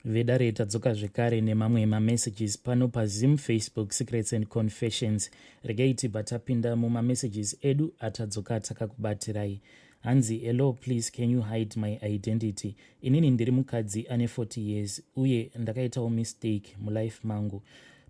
vedare tadzoka zvekare nemamwe mamessages pano pazim facebook secrets and confessions regai tibva tapinda mumamessages edu atadzoka takakubatirai hanzi hello please can you hide my identity inini ndiri mukadzi ane 40 years uye ndakaitawo mistake mulife mangu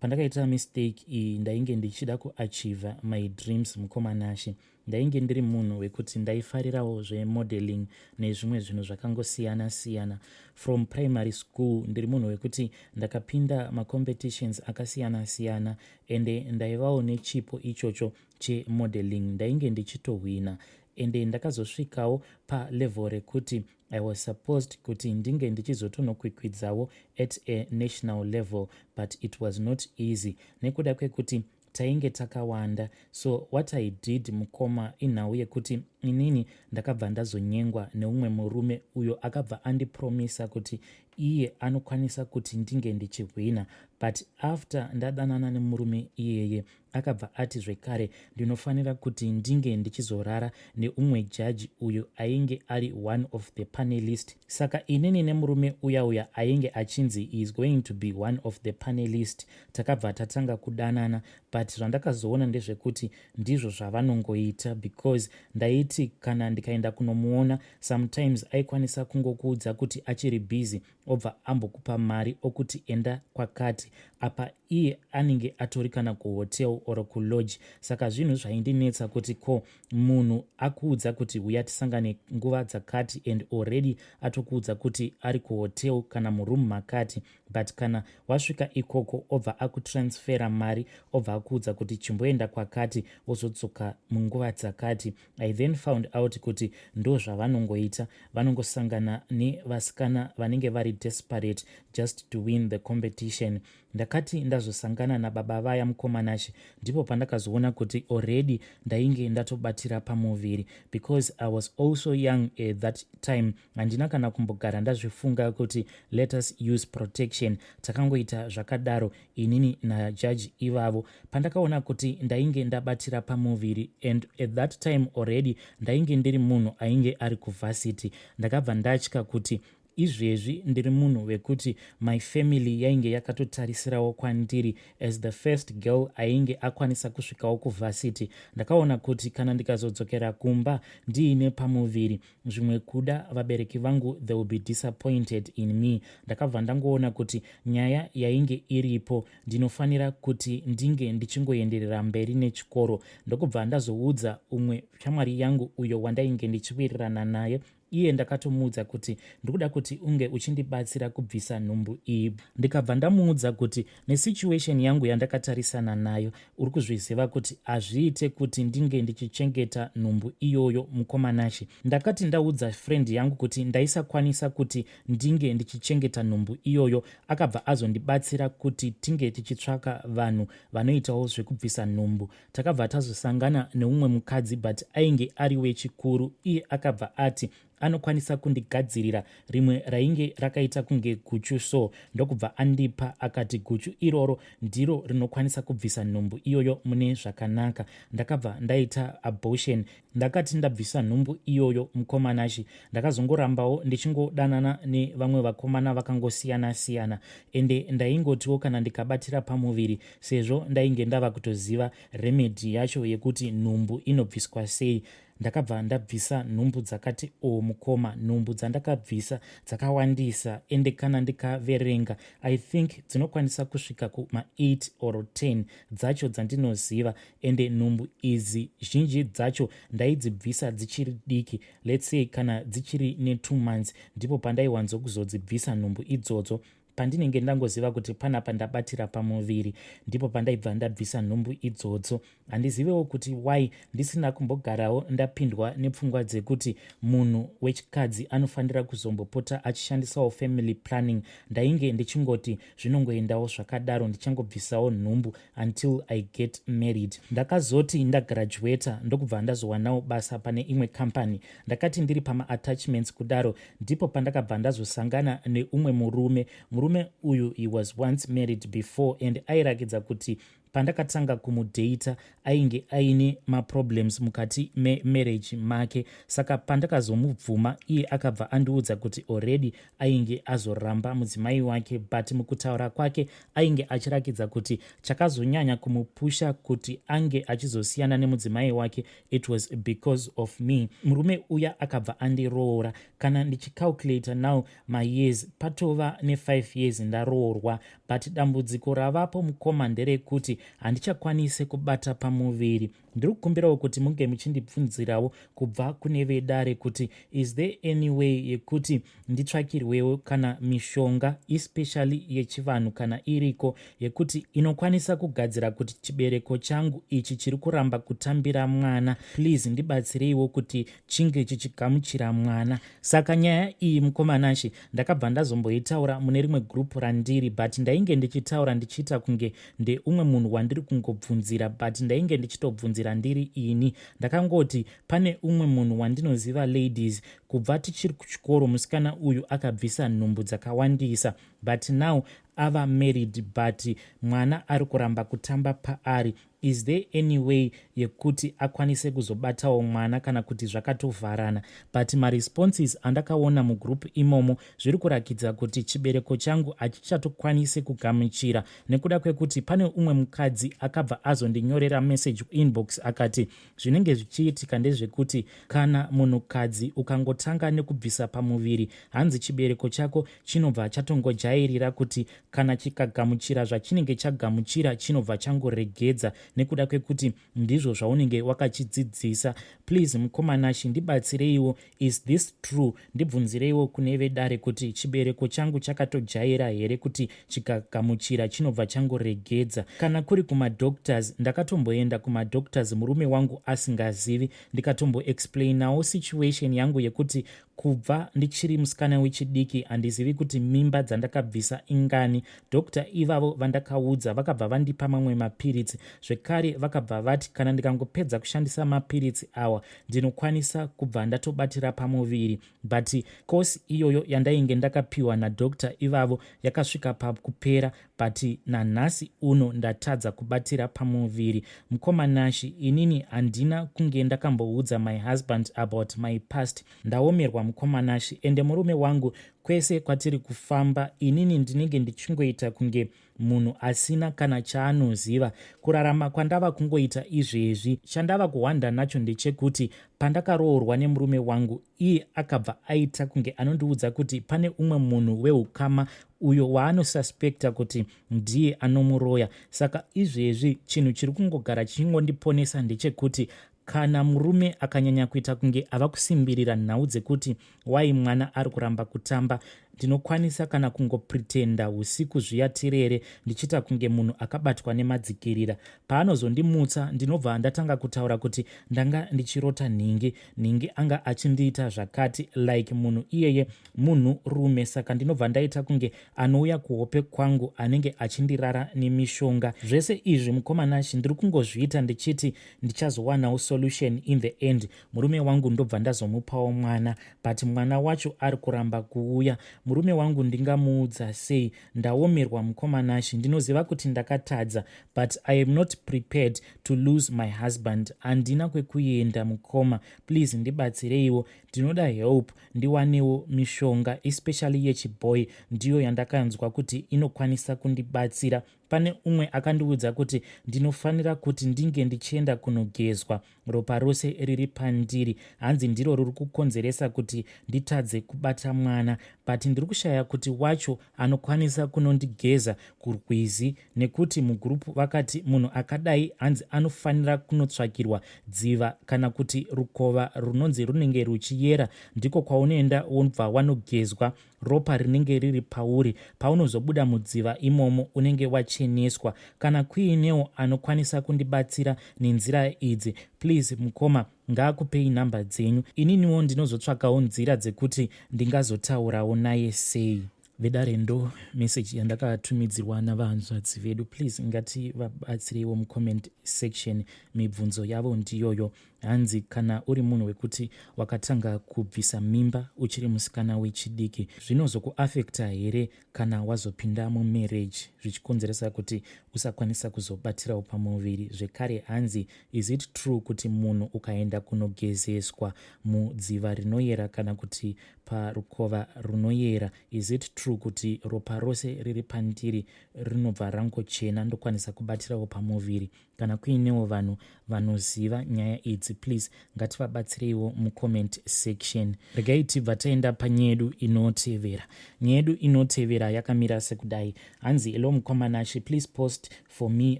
pandakaita mistake iyi ndainge ndichida kuachiva my dreams mukomanashe Ndainge ndiri munhu wekuti ndaifarirawo zvemodeling nezvimwe zvinhu zvakangosiyana siyana. From primary school ndiri munhu wekuti ndakapinda macompetitions akasiyana siyana ende ndaivawo nechipo ichocho chemodeling. Ndainge ndichitohwina ende ndakazosvikawo palevel rekuti i was supposed kuti ndinge ndichizotonokwikwidzawo at a national level but it was not easy nekuda kwekuti tainge takawanda so what i did mukoma inhau yekuti inini ndakabva ndazonyengwa neumwe murume uyo akabva andipromisa kuti iye anokwanisa kuti ndinge ndichihwina but after ndadanana nemurume iyeye akabva ati zvekare ndinofanira kuti ndinge ndichizorara neumwe jaji uyo ainge ari one of the panelist saka inini nemurume uya uya ainge achinzi is going to be one of the panelist takabva tatanga kudanana but zvandakazoona ndezvekuti ndizvo zvavanongoita because ndaiti kana ndikaenda kunomuona sometimes aikwanisa kungokuudza kuti achiri busy obva ambokupa mari okuti enda kwakati apa iye anenge atori kana kuhotel or kulodge saka zvinhu zvaindinetsa kuti ko munhu akuudza kuti huya tisangane nguva dzakati and already atokuudza kuti ari kuhotel kana muroom makati but kana wasvika ikoko obva akutransfera mari obva akuudza kuti chimboenda kwakati wozodzoka munguva dzakati i then found out kuti ndo zvavanongoita vanongosangana nevasikana vanenge vari desperate just to win the competition ndakati ndazosangana nababa vaya mukomanashe ndipo pandakazoona kuti already ndainge ndatobatira pamuviri because i was also young at that time handina kana kumbogara ndazvifunga kuti let us use protection takangoita zvakadaro inini najaji ivavo pandakaona kuti ndainge ndabatira pamuviri and at that time already ndainge ndiri munhu ainge ari kuvhasiti ndakabva ndatya kuti izvezvi ndiri munhu wekuti my family yainge yakatotarisirawo kwandiri as the first girl ainge akwanisa kusvikawo kuvhasiti ndakaona kuti kana ndikazodzokera kumba ndiine pamuviri zvimwe kuda vabereki vangu they will be disappointed in me ndakabva ndangoona kuti nyaya yainge iripo ndinofanira kuti ndinge ndichingoenderera mberi nechikoro ndokubva ndazoudza umwe shamwari yangu uyo wandainge ndichiwirirana naye iye ndakatomuudza kuti ndikuda kuti unge uchindibatsira kubvisa nhumbu iyi ndikabva ndamuudza kuti nesituation yangu yandakatarisana nayo uri kuzviziva kuti hazviite kuti ndinge ndichichengeta nhumbu iyoyo mukomanashe ndakati ndaudza friend yangu kuti ndaisakwanisa kuti ndinge ndichichengeta nhumbu iyoyo akabva azondibatsira kuti tinge tichitsvaka vanhu vanoitawo zvekubvisa nhumbu takabva tazosangana neumwe mukadzi but ainge ari wechikuru iye akabva ati anokwanisa kundigadzirira rimwe rainge rakaita kunge guchu so ndokubva andipa akati guchu iroro ndiro rinokwanisa kubvisa nhumbu iyoyo mune zvakanaka ndakabva ndaita abortion ndakati ndabvisa nhumbu iyoyo mukomanashi ndakazongorambawo ndichingodanana nevamwe vakomana vakangosiyana siyana ende ndaingotiwo kana ndikabatira pamuviri sezvo ndainge ndava kutoziva remedhi yacho yekuti nhumbu inobviswa sei ndakabva ndabvisa nhumbu dzakati o oh, mukoma nhumbu dzandakabvisa dzakawandisa ende kana ndikaverenga i think dzinokwanisa kusvika kuma8 or 10 dzacho dzandinoziva ende nhumbu idzi zhinji dzacho ndaidzibvisa dzichiri diki let's say kana dzichiri ne2 months ndipo pandaiwanzokuzodzibvisa nhumbu idzodzo pandinenge ndangoziva kuti panapa ndabatira pamuviri ndipo pandaibva ndabvisa nhumbu idzodzo handizivewo kuti why ndisina kumbogarawo ndapindwa nepfungwa dzekuti munhu wechikadzi anofanira kuzombopota achishandisawo family planning ndainge ndichingoti zvinongoendawo zvakadaro ndichangobvisawo nhumbu until i get married ndakazoti ndagraduata ndokubva ndazowanawo basa pane imwe company ndakati ndiri pamaattachments kudaro ndipo pandakabva ndazosangana neumwe murume murume uyu he was once married before and airakidza kuti pandakatanga kumudata ainge aine maproblems mukati memarriage make saka pandakazomubvuma iye akabva andiudza kuti already ainge azoramba mudzimai wake but mukutaura kwake ainge achirakidza kuti chakazonyanya kumupusha kuti ange achizosiyana nemudzimai wake it was because of me murume uya akabva andiroora kana ndichicalculator now mayears patova ne5 years ndaroorwa but dambudziko ravapo mukoma nderekuti handichakwanise kubata pamuviri ndiri kukumbirawo kuti munge muchindibvunzirawo kubva kune vedare kuti is there any way yekuti nditsvakirwewo kana mishonga especially yechivanhu kana iriko yekuti inokwanisa kugadzira kuti chibereko changu ichi chiri kuramba kutambira mwana please ndibatsireiwo kuti chinge chichigamuchira mwana saka nyaya iyi mukomanashe ndakabva ndazomboitaura mune rimwe group randiri but ndainge ndichitaura ndichiita kunge ndeumwe munhu wandiri kungobvunzira but ndainge ndichitobvunzira ndiri ini ndakangoti pane umwe munhu wandinoziva ladies kubva tichiri kuchikoro musikana uyu akabvisa nhumbu dzakawandisa but now ava married but mwana ari kuramba kutamba paari is there any way yekuti akwanise kuzobatawo mwana kana kuti zvakatovharana but maresponses andakaona mugroup imomo zviri kurakidza kuti chibereko changu hachichatokwanise kugamuchira nekuda kwekuti pane umwe mukadzi akabva azondinyorera message kuinbox akati zvinenge zvichiitika ndezvekuti kana munhukadzi ukangotanga nekubvisa pamuviri hanzi chibereko chako chinobva chatongojairira kuti kana chikagamuchira zvachinenge chagamuchira chinobva changoregedza nekuda kwekuti ndizvo zvaunenge wakachidzidzisa please mukoma nashe ndibatsireiwo is this true ndibvunzireiwo kune vedare kuti chibereko changu chakatojaira here kuti chikagamuchira chinobva changoregedza kana kuri kumadoctors ndakatomboenda kumadoctors murume wangu asingazivi ndikatomboexplainawo situation yangu yekuti Kubva ndichiri musikana wechidiki handizivi kuti mimba dzandakabvisa ingani. Doctor ivavo vandakaudza vakabva vandipa mamwe mapiritsi zvekare vakabva vati kana ndikangopedza kushandisa mapiritsi awa ndinokwanisa kubva ndatobatira pamuviri but kosi iyoyo yandainge ndakapiwa nadoctor ivavo yakasvika pakupera but nanhasi uno ndatadza kubatira pamuviri mukoma nashi inini handina kunge ndakamboudza my husband about my past ndaomerwa mukoma nashi ende murume wangu kwese kwatiri kufamba inini ndinenge ndichingoita kunge munhu asina kana chaanoziva kurarama kwandava kungoita izvezvi chandava kuhwanda nacho ndechekuti pandakaroorwa nemurume wangu iye akabva aita kunge anondiudza kuti pane umwe munhu weukama uyo waanosuspecta kuti ndiye anomuroya saka izvezvi chinhu chiri kungogara chichingondiponesa ndechekuti kana murume akanyanya kuita kunge ava kusimbirira nhau dzekuti wai mwana ari kuramba kutamba ndinokwanisa kana kungopretenda usiku zviya tirere ndichiita kunge munhu akabatwa nemadzikirira paanozondimutsa ndinobva ndatanga kutaura kuti ndanga ndichirota nhingi nhingi anga achindiita zvakati like munhu iyeye munhu rume saka ndinobva ndaita kunge anouya kuhope kwangu anenge achindirara nemishonga zvese izvi mukomanashi ndiri kungozviita ndichiti ndichazowanawo solution in the end murume wangu ndobva ndazomupawo mwana but mwana wacho ari kuramba kuuya murume wangu ndingamuudza sei ndaomerwa mukomanashi ndinoziva kuti ndakatadza but i am not prepared to lose my husband handina kwekuenda mukoma please ndibatsireiwo ndinoda help ndiwanewo mishonga especially yechiboy ndiyo yandakanzwa kuti inokwanisa kundibatsira pane umwe akandiudza kuti ndinofanira kuti ndinge ndichienda kunogezwa ropa rose riri pandiri hanzi ndiro riri kukonzeresa kuti nditadze kubata mwana but ndiri kushaya kuti wacho anokwanisa kunondigeza kurwizi nekuti mugurupu vakati munhu akadai hanzi anofanira kunotsvakirwa dziva kana kuti rukova runonzi runenge ruchiyera ndiko kwaunoenda wobva wanogezwa ropa rinenge riri pauri paunozobuda mudziva imomo unenge wacheneswa kana kuinewo anokwanisa kundibatsira nenzira idzi please mukoma Ngaakupei number dzenyu ininiwo ndinozotsvakawo nzira dzekuti ndingazotaurawo naye sei. Vedare ndo message yandakatumidzirwa navahanzvadzi vedu please ngati vabatsireiwo mucomment section mibvunzo yavo ndiyoyo hanzi kana uri munhu wekuti wakatanga kubvisa mimba uchiri musikana wechidiki zvinozokuafekta here kana wazopinda mumarriage zvichikonzeresa kuti usakwanisa kuzobatirawo pamuviri zvekare hanzi is it true kuti munhu ukaenda kunogezeswa mudziva rinoyera kana kuti parukova runoyera is it true kuti ropa rose riri pandiri rinobva rangochena ndokwanisa kubatirawo pamuviri kana kuinewo vanhu vanoziva nyaya idzi please ngativabatsireiwo mucomment section regai tibva taenda panyedu inotevera nyedu inotevera yakamira sekudai hanzi elo mukwamanashe please post for me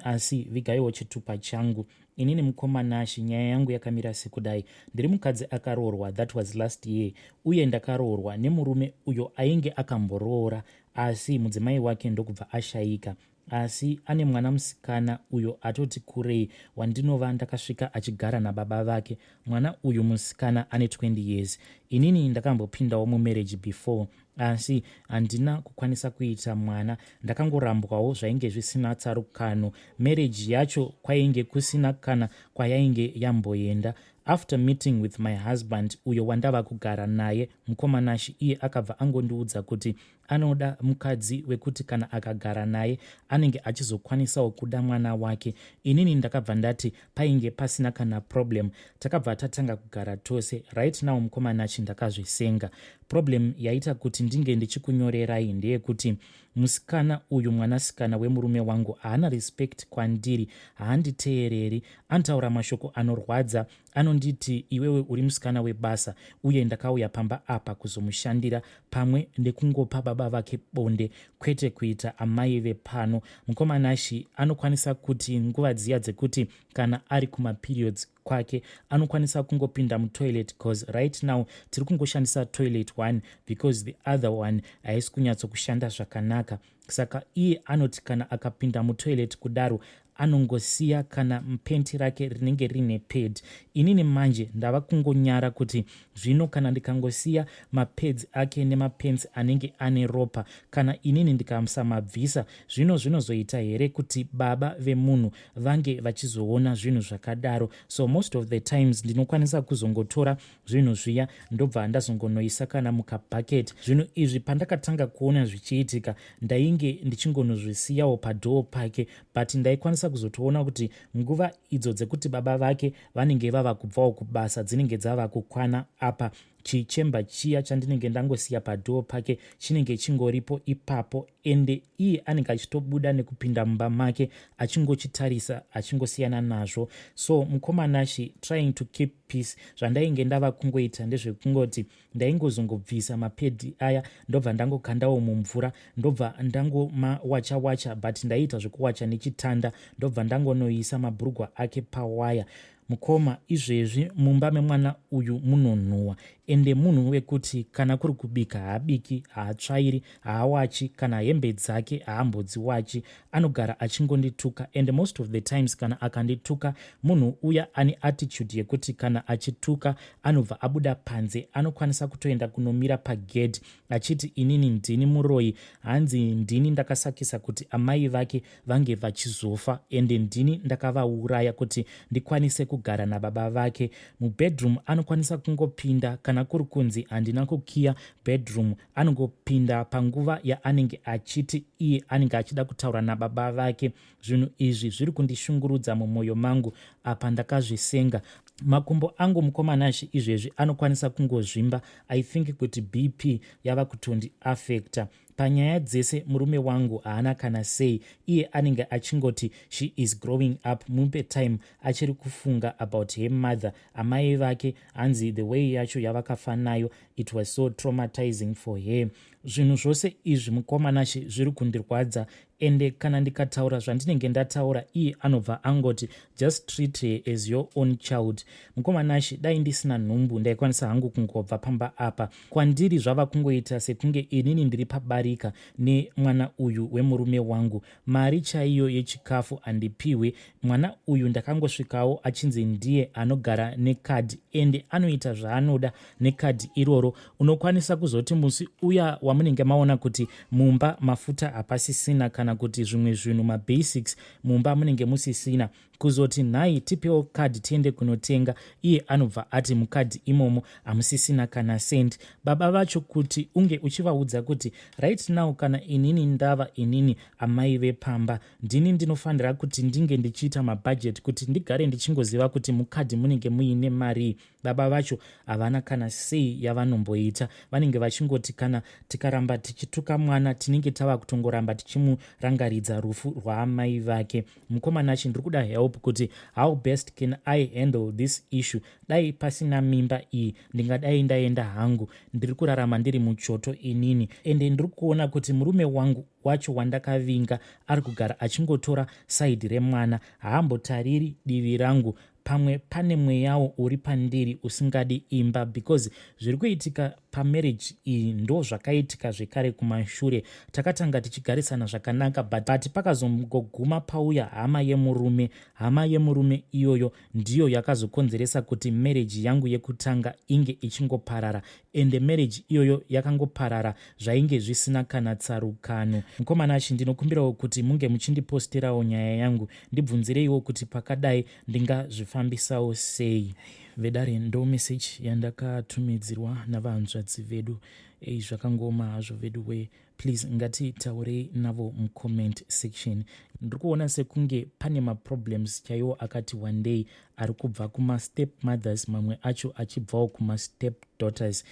asi vigaiwo chitupa changu inini mukomanashi nyaya yangu yakamira sekudai ndiri mukadzi akaroorwa that was last year uye ndakaroorwa nemurume uyo ainge akamboroora asi mudzimai wake ndokubva ashayika Asi ane mwana musikana uyo atoti kurei wandinova ndakasvika achigara nababa vake. Mwana uyu musikana ane 20 years. Inini ndakambopindawo mumarriage before asi handina kukwanisa kuita mwana ndakangorambwawo zvainge zvisina tsarukano marriage yacho kwainge kusina kana kwayainge yamboenda after meeting with my husband uyo wandava kugara naye mukomanashi iye akabva angondiudza kuti Anoda mukadzi wekuti kana akagara naye anenge achizokwanisawo kuda mwana wake. Inini ndakabva ndati painge pasina kana problem. Takabva tatanga kugara tose. Right now mukoma Nachi ndakazvisenga. Problem yaita kuti ndinge ndichikunyorerai ndeyekuti musikana uyu mwanasikana wemurume wangu haana respect kwandiri, haanditeereri, anotaura mashoko anorwadza anonditi iwewe uri musikana webasa uye ndakauya pamba apa kuzomushandira pamwe nekungopa baba vake bonde kwete kuita amai vepano mukoma nashi anokwanisa kuti nguva dziya dzekuti kana ari kumaperiods kwake anokwanisa kungopinda mutoilet bcause right now tiri kungoshandisa toilet one because the other one haisi kunyatsokushanda zvakanaka saka iye anoti kana akapinda mutoilet kudaro anongosiya kana mpenti rake rinenge rine pad inini manje ndava kungonyara kuti zvino kana ndikangosiya mapads ake nemapents anenge ane ropa kana inini ndikasamabvisa zvino zvinozoita here kuti baba vemunhu vange vachizoona zvinhu zvakadaro so most of the times ndinokwanisa kuzongotora zvinhu zviya ndobva ndazongonoisa kana mukabucket zvinhu izvi pandakatanga kuona zvichiitika ndainge ndichingonozvisiyawo padhoo pake but ndaikwanisa kuzotoona kuti nguva idzo dzekuti baba vake vanenge vava kubvawo kubasa dzinenge dzava kukwana apa chichemba chiya chandinenge ndangosiya padhoo pake chinenge chingoripo ipapo ende iye anenge achitobuda nekupinda mumba make achingochitarisa achingosiyana nazvo so mukomana she trying to keep peace zvandainge ndava kungoita ndezvekungoti ndaingozongobvisa mapedhi aya ndobva ndangokandawo mumvura ndobva ndangomawacha wacha but ndaiita zvekuwacha nechitanda ndobva ndangonoisa mabhurugwa ake pawaya Mukoma izvezvi mumba memwana uyu munonhuwa ende munhu wekuti kana kuri kubika haabiki, haatsvairi, haawachi kana hembe dzake haambodziwachi. Anogara achingondituka and most of the times kana akandituka munhu uya ane attitude yekuti kana achituka anobva abuda panze anokwanisa kutoenda kunomira pagedhi achiti inini ndini muroyi hanzi ndini ndakasakisa kuti amai vake vange vachizofa ende ndini ndakavauraya kuti ndikwanise kugara nababa vake mubedroom anokwanisa kungopinda kana kuri kunzi handina kukiya bedroom anongopinda panguva yaanenge achiti iye anenge achida kutaura nababa vake zvinhu izvi zviri kundishungurudza mumwoyo mangu apa ndakazvisenga makumbo angu mukomanashe izvezvi anokwanisa kungozvimba i think kuti bp yava kutondi affecta panyaya dzese murume wangu haana kana sei iye anenge achingoti she is growing up mupe time achiri kufunga about her mother amai vake hanzi the way yacho yavakafa nayo it was so traumatizing for her zvinhu zvose izvi mukomanashe zviri kundirwadza ende kana ndikataura zvandinenge ndataura iye anobva angoti just treat her as your own child mukoma nashe dai ndisina nhumbu ndaikwanisa hangu kungobva pamba apa kwandiri zvava kungoita sekunge inini ndiri pabarika nemwana uyu wemurume wangu mari chaiyo yechikafu handipihwe mwana uyu ndakangosvikawo achinzi ndiye anogara nekadhi ende anoita zvaanoda nekadhi iroro unokwanisa kuzoti musi uya wamunenge maona kuti mumba mafuta hapasisina kana kuti zvimwe zvinhu mabasics mumba munenge musisina kuzoti nhai tipewo kadhi tiende kunotenga iye anobva ati mukadhi imomo hamusisina kana sendi baba vacho kuti unge uchivaudza kuti right now kana inini ndava inini amai vepamba ndini ndinofanira kuti ndinge ndichiita mabhajeti kuti ndigare ndichingoziva kuti mukadhi munenge muine marii baba vacho havana kana sei yavanomboita vanenge vachingoti kana tikaramba tichituka mwana tinenge tava kutongoramba tichimurangaridza rufu rwaamai vake mukomanachi ndiri kuda help kuti how best can i handle this issue dai pasina mimba iyi ndingadai ndaenda hangu ndiri kurarama ndiri muchoto inini ende ndiri kuona kuti murume wangu wacho wandakavinga ari kugara achingotora saidhi remwana haambotariri divi rangu pamwe pane mweyawo uri pandiri usingadi imba because zviri kuitika pamarriage iyi ndo zvakaitika zvekare kumashure takatanga tichigarisana zvakanaka but, but pakazongoguma pauya hama yemurume hama yemurume iyoyo ndiyo yakazokonzeresa kuti marriage yangu yekutanga inge ichingoparara ende marriage iyoyo yakangoparara zvainge zvisina kana tsarukano mukomana chi ndinokumbirawo kuti munge muchindiposterawo nyaya yangu ndibvunzireiwo kuti pakadai ndingazvifambisawo sei vedare ndo message yandakatumidzirwa navanzvadzi vedu ei zvakangooma hazvo vedu wee please ngatitaurei navo mucomment section ndiri kuona sekunge pane maproblems chaiwo akati wandei ari kubva kumastep mothers mamwe acho achibvawo kumastep daughters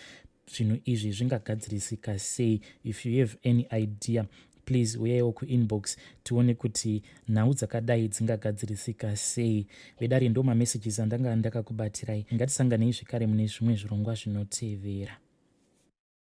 zvinhu izvi zvingagadzirisika sei if you have any idea please uyaiwo kuinbox tione kuti nhau dzakadai dzingagadzirisika sei vedare ndo mamessages andanga ndakakubatirai ngatisanganei zvekare mune zvimwe zvirongwa zvinotevera